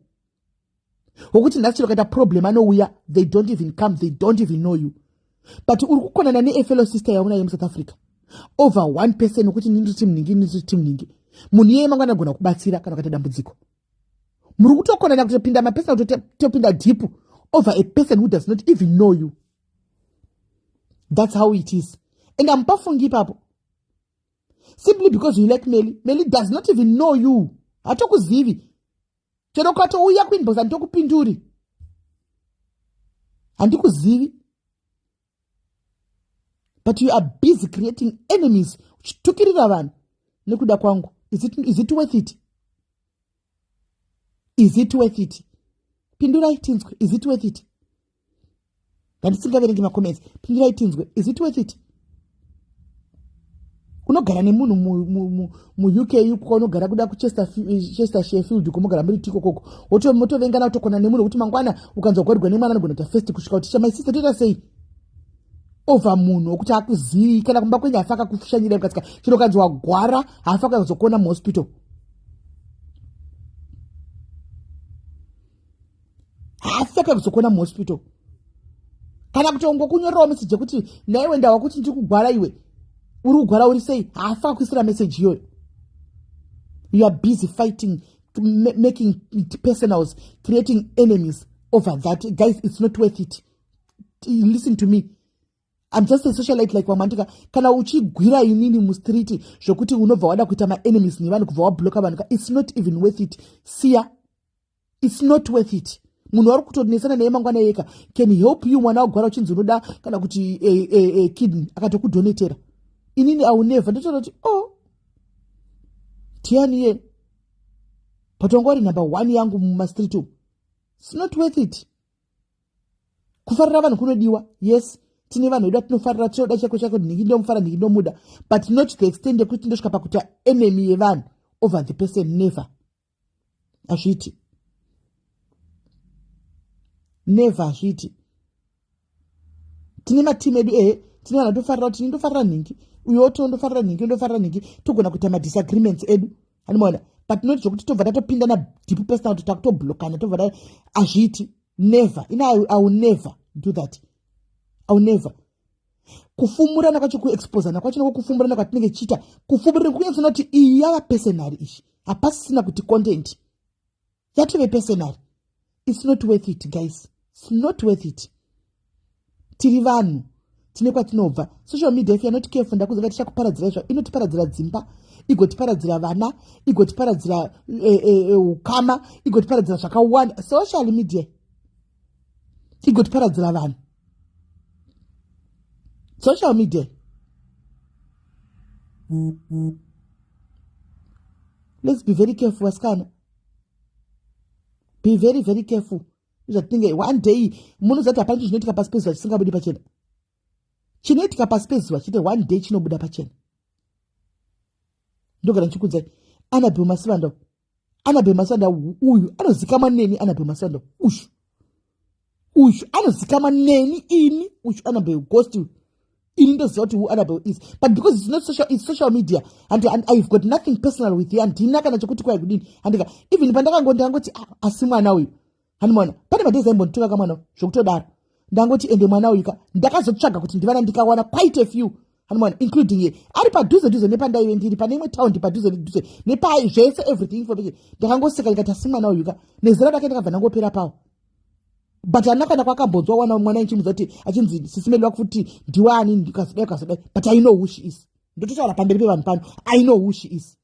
wokuti nhasi chero kaita problem anouya they don't even come they don't even know you but uri kukonana neefellow sister yaona yemusouth africa over one person wokuti ini ndiri timningi ini ndiri timningi munhu iyeye mangwana anogona kubatsira kana ukaita dambudziko muri kutokonana kutopinda mapesona kutotopinda deep over a person who does not even know you that's how it is and amupafungi ipapo simply because you like meli meli does not even know you hatokuzivi chero ukatouya kuinbox handitokupinduri handikuzivi but you are busy creating enemies uchitukirira vanhu nekuda kwangu is it, is it worth it is it worth it pindurai tinzwe is it worth it ndandisingaverengi macomments pingirai tinzwe is it worth it unogara nemunhu muuk ikuka unogara kuda kuchester shefield uko mogara muri tiko koko motovengana kutokona nemunhu wekuti mangwana ukanzwa kugwarirwa nemwana anogona kuta first kusvika kuti chamai sister toita sei over munhu wekuti akuzivi kana kumba kwenyu hafa akakufushanyira ukatika chino ukanzi wagwara hafa akazokuona muhospital haasi akakuzokuona muhospital kana kuti ongokunyorerawo meseji yekuti naiwe ndawa kuti ndiri kugwara iwe uri kugwara uri sei haasi akakuisira meseji iyoyo you are busy fighting making it personals creating enemies over that guys it's not worth it listen to me I'm just a socialite like wamandika kana uchigwira inini mustreet zvokuti unobva wada kuita maenemies nevanhu kubva wabloka vanhu ka it's not even worth it siya its not worth it munhu wari kutonesana naye mangwana yeka can help you mwana wagwara uchinzi unoda kana kuti e, e, e, kidney akatokudonetera inini aunevha ndotoona kuti o oh, tianiye but wanga wari number one yangu mumastreet umu its not worth it kufarira vanhu kunodiwa yes tine vanhu vedu atinofarira tinoda chako chako nhingi ndomufara nhingi ndomuda but not the extend yekuti ndosvika pakuita enemy yevanhu over the person never azviti never azviti tine matimu edu ehe tine vanhu tofarira kuti ndofarira nhingi uyo to ndofarira nhingi ndofarira nhingi togona kuita madisagreements edu animaona but not zvokuti tobva tatopindana deep personal kuti takutoblokana tobva ta azviiti never ini iwill never do that iwill never kufumurana kwacho kuexposana kwacho nako kufumurana kwatinenge tichiita kufumurana kunyatsona kuti iyi yava personary izvi hapasisina kuti content yatove personary its not worth it guys its not worth it tiri vanhu tine kwatinobva social media if yanoti careful ndakuzonga tichakuparadzira izva inotiparadzira dzimba igotiparadzira vana igotiparadzira eh, eh, eh, ukama igotiparadzira zvakawanda social media igotiparadzira vanhu social media let's be very careful vasikana be very very careful zvatinenge one day munozati hapana chinhu chinoitika pasi pezuva chisingabudi pachena chinoitika pasi pezuva chete one day chinobuda pachena ndogara ndichikudzai anabel masivandau anabhe masanda uyu anozikama neni anabhe masanda uyu uyu anozikama neni ini uyu anabhe ghost uyu ini ndoziva kuti who anabhe is but because it's not social, it's social media and, and ihave got nothing personal with you andina kana chekuti kwaikudini andika even pandakango ndikangoti ah, asi mwana uyu hani mwana pane madhezi aimbonditora ka mwana zvokutodaro ndangoti ende mwana uyuka ndakazotsvaga kuti ndivana ndikawana quite a few hani mwana including ye ari padhuze dhuze nepandaive ndiri pane imwe town ndipadhuze nedhuze nepai zvese everything information ndakangoseka ndikati asi mwana uyuka nezera rake ndakabva ndangopera pawo but ana kana kwakambonzwa wana mwana ichimuza kuti achinzi sisimedwa kuti ndiwani ndikazodai kazodai but i know who she is ndototaura pamberi pevanhu pano i know who she is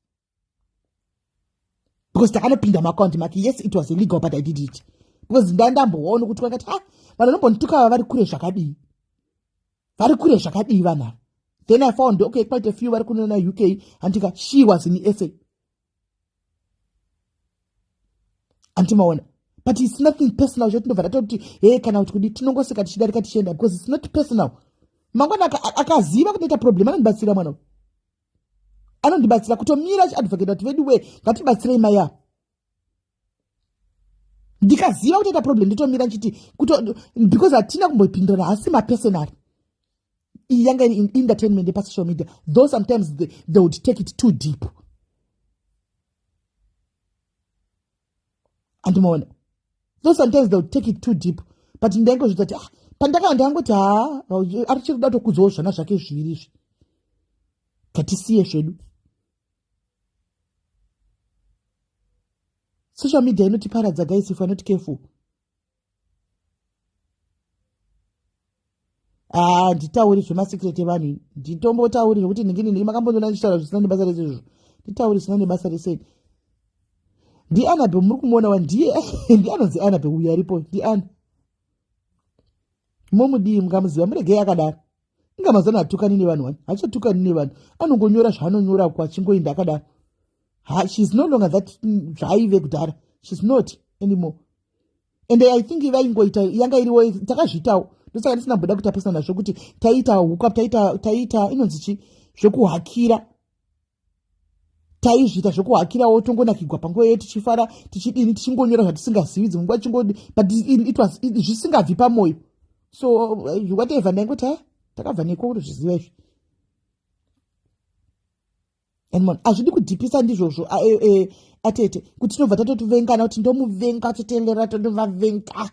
because takanopinda muakaunti make yes it was illegal but i did it because nda ndamboona kuti vakati ha vanhu vanombonditukava vari kure zvakadii vari kure zvakadii vanhu ava then i found okay quite a few vari kunona uk handika she was in sa antimaona but its nothing personal zvo tinobva tatoti he kana kuti kudi tinongoseka tichidarika tichienda because its not personal mangwana akaziva kunoita problem anondibatsira mwana anondibatsira kutomira achiadvocate kuti vedu wee ngatibatsirei mai ava ndikaziva kutoita problem nditomira ndichiti because hatina kumbopindurana hasi mapersonary iyi yanga iri entertainment yepasocial media though sometimes they, they would take it too deep andimaona so sometimes they take it too deep but ndaingozvita kuti ah, pandakava ndangoti haa ari chiri kuda tokudzawo zvana zvake zviviri izvi ngatisiye zvedu social media inotiparadza guys if anoti careful haa ah, nditauri zvemasekret evanhu nditombotauri zvekuti ndingini ndii makambondiona ndichitaura zvisina nebasa rese izvozvo nditauri zvisina nebasa rese ndianabe muri kumuona wa ndiye ndianonzi anabe uyo aripo ndiani momudii mukamuziva muregei akadaro inga mazana hatukani nevanhu wani hachatukani nevanhu anongonyora zvaanonyora ko achingoinda akadaro ha shes no longer that mm, zvaaive kudhara shes not anymore and i think vaingoita yanga iriwo takazviitawo ndosaka ndisina mboda kutapisa nazvo kuti taiita huka taiita taiita inonzi chi zvekuhakira taizviita zvekuhakirawo tongonakigwa panguva iyoyo tichifara tichidini tichingonyora zvatisingazivi dzimwe nguva chingodi but it was zvisingabvi pamwoyo so eh, whatever ndaingo ta takabva neko kuti zviziva izvi and mon hazvidi kudhipisa ndizvozvo ah, eh, eh, atete kuti tinobva tatotuvengana kuti ndomuvenga totenderera tondovavenga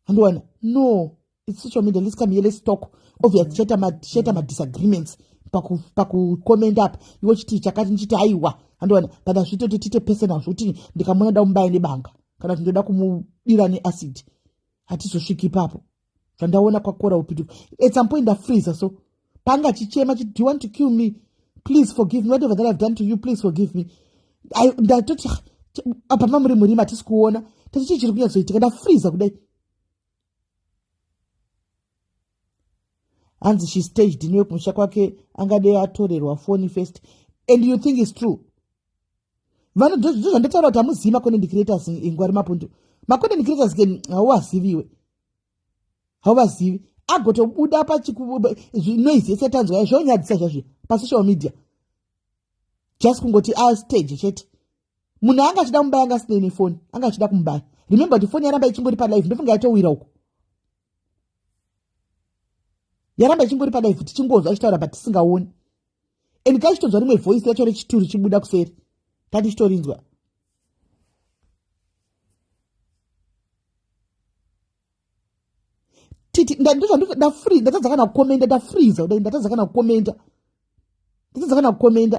andiwana no its social media let's come here let's talk obvious tichaita ma tichaita ma disagreements paku paku comment up iwe chiti chakati ndichiti aiwa andowana but azvitoti tiite personal zvokuti ndikamona da kumubaya nebanga kana kuti ndoda kumudira neacid hatizosviki ipapo zvandaona kwakora upitu at some point ndafreezer so panga chichema chiti do you want to kill me please forgive me whatever that i've done to you please forgive me ndatoti apa mamuri murima hatisi kuona tati chii chiri kunyatsoitika ndafreezer kudai hanzi she staged in wekumusha kwake angadei atorerwa foni first and you think is true vanhu ndozvandataura kuti hamuzivi macontent creators ingwari mapundu macontent creators ke hauvaziviwe hauvazivi agotobuda pachinoizi yese tanzwa zvonyadzisa zvazvi pasocial media just kungoti astage chete munhu anga achida kumubaya anga asina ine foni anga achida kumubaya remember kuti foni yaramba ichingori palive ndofunga yatowira uko yaramba ichingori palive tichingonzwa achitaura but tisingaoni and kaichitonzwa rimwe voice racho rechituru chibuda kuseri tatichitorinzwa titi ndandozvandafree ndatadza kana kukomenda ndafreeza kudai ndatadza kana kukomenda ndatadza kana kukomenda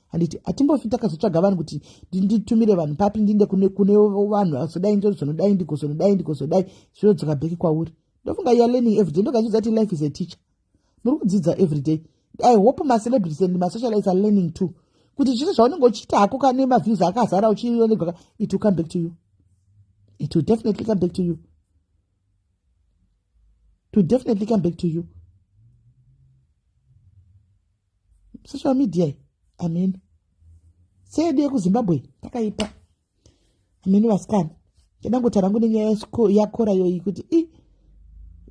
handiti hatimbofi takazotsvaga vanhu kuti nditumire vanhu papi ndiinde kune kune vanhu azodai ndozonodai ndigozonodai ndigozodai zvinodzoka bheki kwauri ndofunga youare learning everyday ndokazvidza kuti life is a teacher muri kudzidza everyday i hope macelebrities and masocialites are learning too kuti zvese zvaunenge uchiita hako kane maviews akazara uchionegaka it will come back to you it will definitely come back to you it will definitely come back to you social media amen seedu yekuzimbabwe takaipa amen vasikana ndangoti rangu nenyaya yakora yoyi kuti i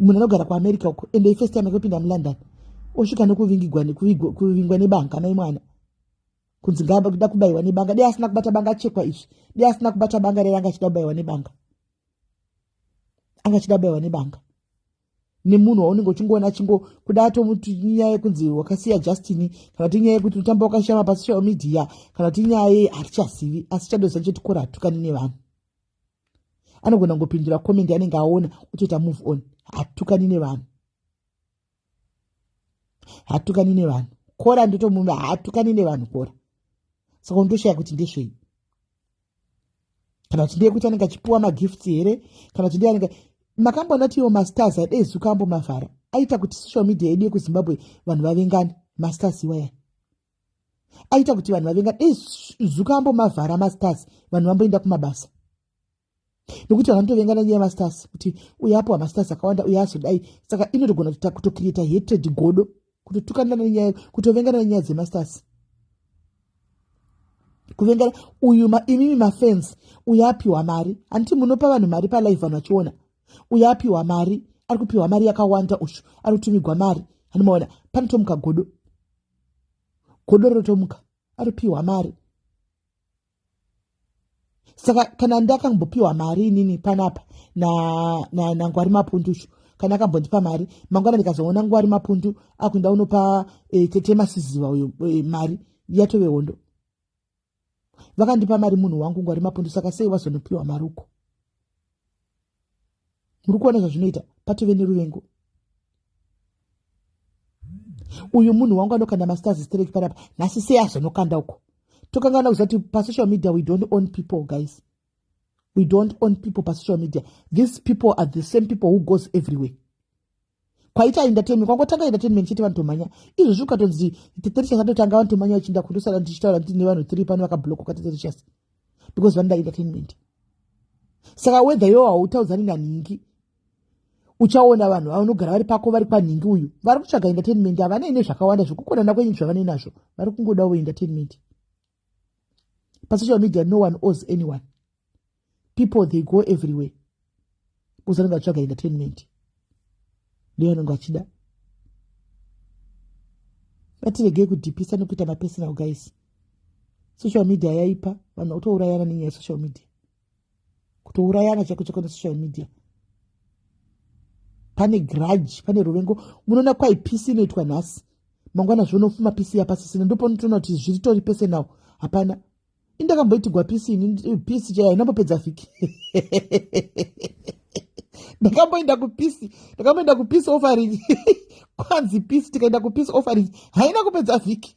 munhu anogara kuamerica uko ende ifirst time ekupinda mulondon osvika nekuvingigwa nekuvingwa nebanga naimwana kunzi ngakuda kubaiwa nebanga dei asina kubata banga achekwa izvi dei asina kubata banga rere anga achida kubaiwa nebanga anga achida kubaiwa nebanga nemunhu waunenge uchingoona chingo kuda tomuti nyaya yekunzi wakasiya justini kana ti nyaya yekuti utamba wakashama pasocial media kana ti nyaya yei hatichazivi asi chadoza chetikora hatukani nevanhu anogona ngopindura comment anenge aona otoita move on hatukani nevanhu hatukani nevanhu kora ndotomuva hatukani nevanhu kora saka unotoshaya kuti ndezvei kana kuti ndeyekuti anenge achipiwa magifts here kana kuti ndeyanenge makamboona kuti iwo mastars adei zuka ambo mavhara aita kuti social media yedu yekuzimbabwe vanhu vavengane mastars iwaya aita kuti vanhu vavengane dei zuka ambo mavhara mastars vanhu vamboenda kumabasa nekuti vanhu vanotovengana nyaya yemastars kuti uyo apiwa mastars akawanda uyo azodai saka inotogona kutokirita hetrade godo kutotukana nenyaya kutovengana nenyaya dzemastasi kuvengana uyu ma, imimi mafans uyo apiwa mari handiti munopa vanhu mari palive vanhu vachiona uyo apiwa mari ari kupiwa mari yakawanda ushu ari kutumigwa mari handimaona panotomuka godo godo rotomuka ari kupiwa mari saka kana ndakambopiwa mari inini panapa nangwari na, na mapunducho kana akambondipa mari mangwana ndikazoona ngwari mapundu akuenda unopa e, eh, tete masiziva uyo e, mari yatove hondo vakandipa mari munhu wangu ngwari mapundu saka sei wazonopiwa mari uko muri kuona zvazvinoita patove neruvengo uyu munhu wangu anokanda masters strek panapa nhasi sei azonokanda uko tokangana kuziva kuti pasocial media we don't own people guys we don't own people pasocial media these people are the same people who goes everywhere kwaita entertainment kwangotanga entertainment chete vanhu tomhanya izvozvi ukatonzi teterichas atotanga vanhu tomhanya vachiinda kundosara ndichitaura nditi nevanhu three pano vakablokoka teterichas because vanoda entertainment saka wedha yoo hautaudzani nanhingi uchaona vanhu vanogara vari pako vari kwanhingi uyu vari kutsvaga entertainment havanei nezvakawanda zvekukonana kwenyu zvavane nazvo vari kungodawo entertainment pasocial media no one owes anyone people they go everywhere bcause anenge atsvaga entertainment ndiyo anenge achida ngatiregei kudhipisa nekuita mapersonal guys social media yaipa vanhu vatourayana nenyaya yesocial media kutourayana chaiko chaiko nesocial media pane grudge pane ruvengo munoona kwai pisi inoitwa nhasi mangwana zvonofuma pisi yapasisina ndoponotoona kuti zviri tori pese nawo hapana indakamboitigwa pisi ini pisi chaiyo inambopedza vhiki ndakamboenda kupisi ndakamboenda kupisi offering kwanzi pisi tikaenda kupisi offering haina kupedza vhiki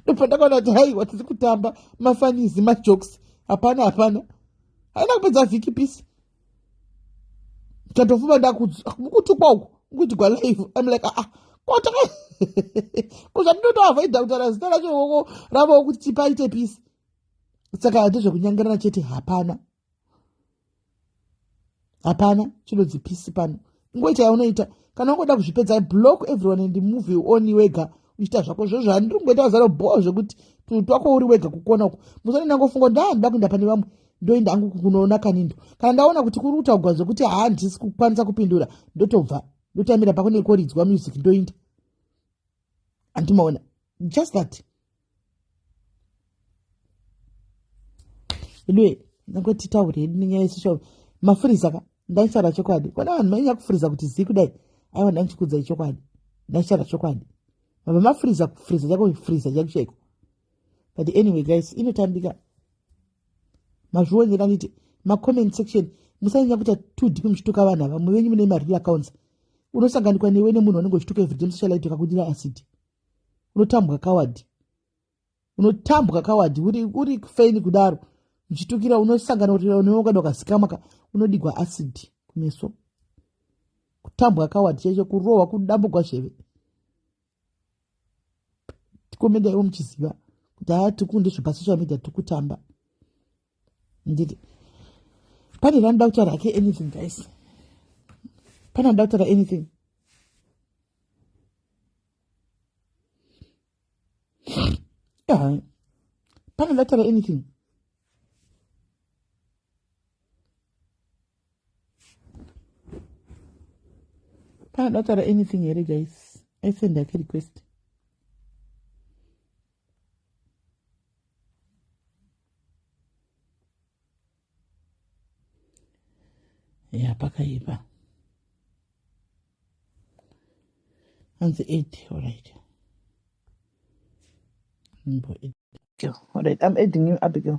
ndobva ndakaona kuti haiwa tiri kutamba mafanizi majokes hapana hapana haina kupedza vhiki pisi tatofuma ndakutukwa uku kuti gwa live im like aa ah, kota kuzvatinotoavoida kutaura zita racho ravo kuti tipaite pisi saka hati zvekunyangarana chete hapana hapana chinonzi pisi pano ingoita yaunoita kana ungoda kuzvipedza block everyone and move on wega uchiita zvako zvo zvandiri kungoita zaro bhoo zvekuti twako uri wega kukona uku musoni ndangofunga kuti ndandoda kuenda pane vamwe ndoenda hangu kunoona kanindo kana ndaona kuti kuri kutaugwa zvekuti handisi kukwanisa kupindura ndotobva ndotamira pako nekoridzwa music ndoinda andimaona just that idiwe ndangoti taure hedu nenyaya yesocial mafuriza ka ndaishara chokwadi kona vanhu mainya kufuriza kuti zii kudai aiwa ndandichikudza ichokwadi ndaishara chokwadi mabva mafuriza kufuriza chako kufuriza chako chaiko but anyway guys inotambika mazvionera nite macomment section musanyanya kuita two deep muchituka vanhu ava mumwe venyu mune mareal accounts unosanganikwa newe nemunhu wanenge uchituka everyday musocialite kakudira acid unotambwa kawadi unotambwa kawadi uri, uri feni kudaro uchitukira unosangana kuti unoungana ukazikamaka unodigwa acid kumeso kutambwa kawadi chaicho kurohwa kudambugwa zveve tikomenda ivo muchiziva kuti haa tikunde zvepasocial media tikutamba nditi pane ranoda kutaura hake anything guys pane anoda kutaura anything yeah. pane anoda kutaura anything paadataura anything here guys aisend yake request ya pakaipa hanzi eight orit orit i'm adding you abigail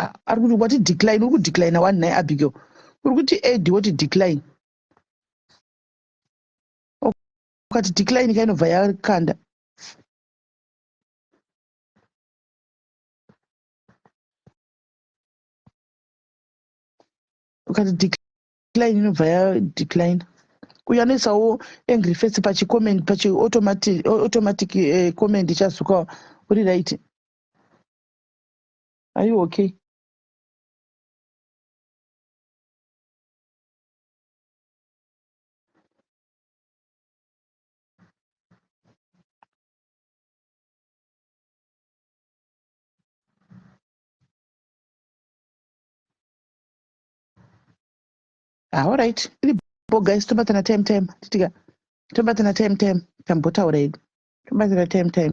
Ah, ari kuti wati decline uri kudecline wani nhai abigail uri kuti ed woti decline ukati decline ka inobva yakanda ukati decline inobva ya decline uyo anoisawo angry face pachicomment pachi automatic, automatic uh, comment ichazuka uri right are you okay ah, alright iripo guys tobatana time time titika tobatana time time tambotaura hedu tobatana time time